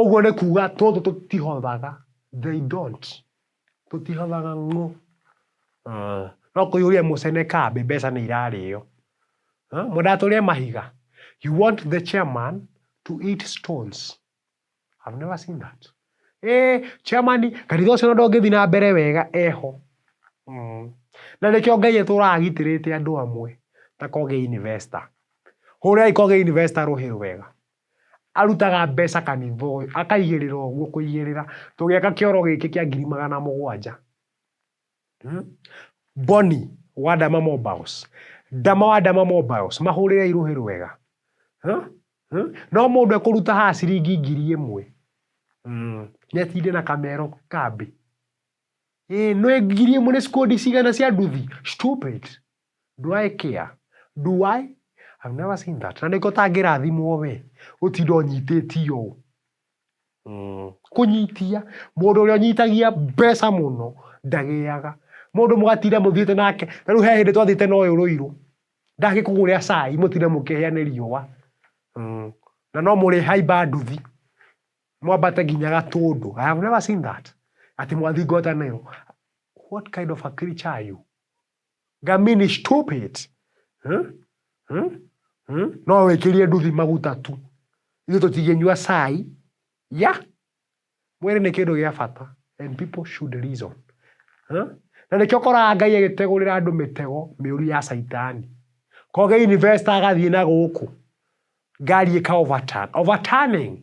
Ũguo nĩ kuga tũtũ tũtihothaga, they don't, tũtihothaga ng'ũ. Ah, no kũihũria mũcene kambĩ mbeca nĩ irarĩo. Ah, Mwendaga tũrĩe mahiga. You want the chairman to eat stones. I've never seen that. Eh, chairman, kanitha ũcio ona ndũngĩthiĩ na mbere wega eho. Mm. Na nĩkĩo Ngai etũraga agitĩrĩte andũ amwe ta Koge Investor. Hũrĩrai Koge Investor rũhĩ rwega. Arutaga mbeca kanitha ũyũ, akaigĩrĩra ũguo kũigĩrĩra, tũgĩaka kĩoro gĩkĩ kĩa ngiri magana mũgwanja. Boni wa Dama Mobiles, Dama wa Dama Mobiles, mahũrĩre irũhĩ rwega. No mũndũ ekũruta haha ciringi ngiri ĩmwe, nĩatinde na kamero kambĩ? Ĩĩ, nĩ ngiri ĩmwe nĩ cikondi cigana cia nduthi? Stupid. Do I care? Do I? I've never seen that. Na nĩko tangĩrathimwo we gũtinda ũnyitĩtio ũũ. Mm. Kũnyitia mũndũ ũrĩa ũnyitagia mbeca mũno ndagĩaga. Mũndũ mũgatinda mũthiĩte nake, na rĩu he hĩndĩ twathiĩte na ũyũ rũirũ ndangĩkũgũrĩra cai mũtinde mũkĩhĩa nĩ riũa. Mm. Na no mũrĩ haimba nduthi mwambate nginya gatũndũ. I have never seen that. Ati mwathingotanĩrwo. What kind of a creature are you? Ngamini stupid. Hmm? Hmm? Hmm? No wĩkĩrie nduthi maguta tu. Ithuĩ tũtingĩnyua cai. Ya. Mwĩrĩ nĩ kĩndũ gĩa bata and people should reason. Hmm? Na nĩkĩo ũkoraga Ngai agĩtegũrĩra andũ mĩtego mĩũru ya caitani. Koge investor agathiĩ na gũkũ. Ngari ĩka overturn. Overturning.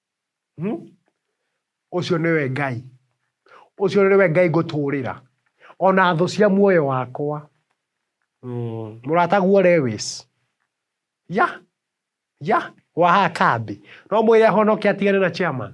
Ũcio nĩwe Ngai, ũcio nĩwe Ngai ngũtũrĩra, ona thũ cia muoyo wakwa. Mũrataguo Lewis, ya, ya, wa haha kambĩ. No ũmwĩre ahonoke atigane na chairman?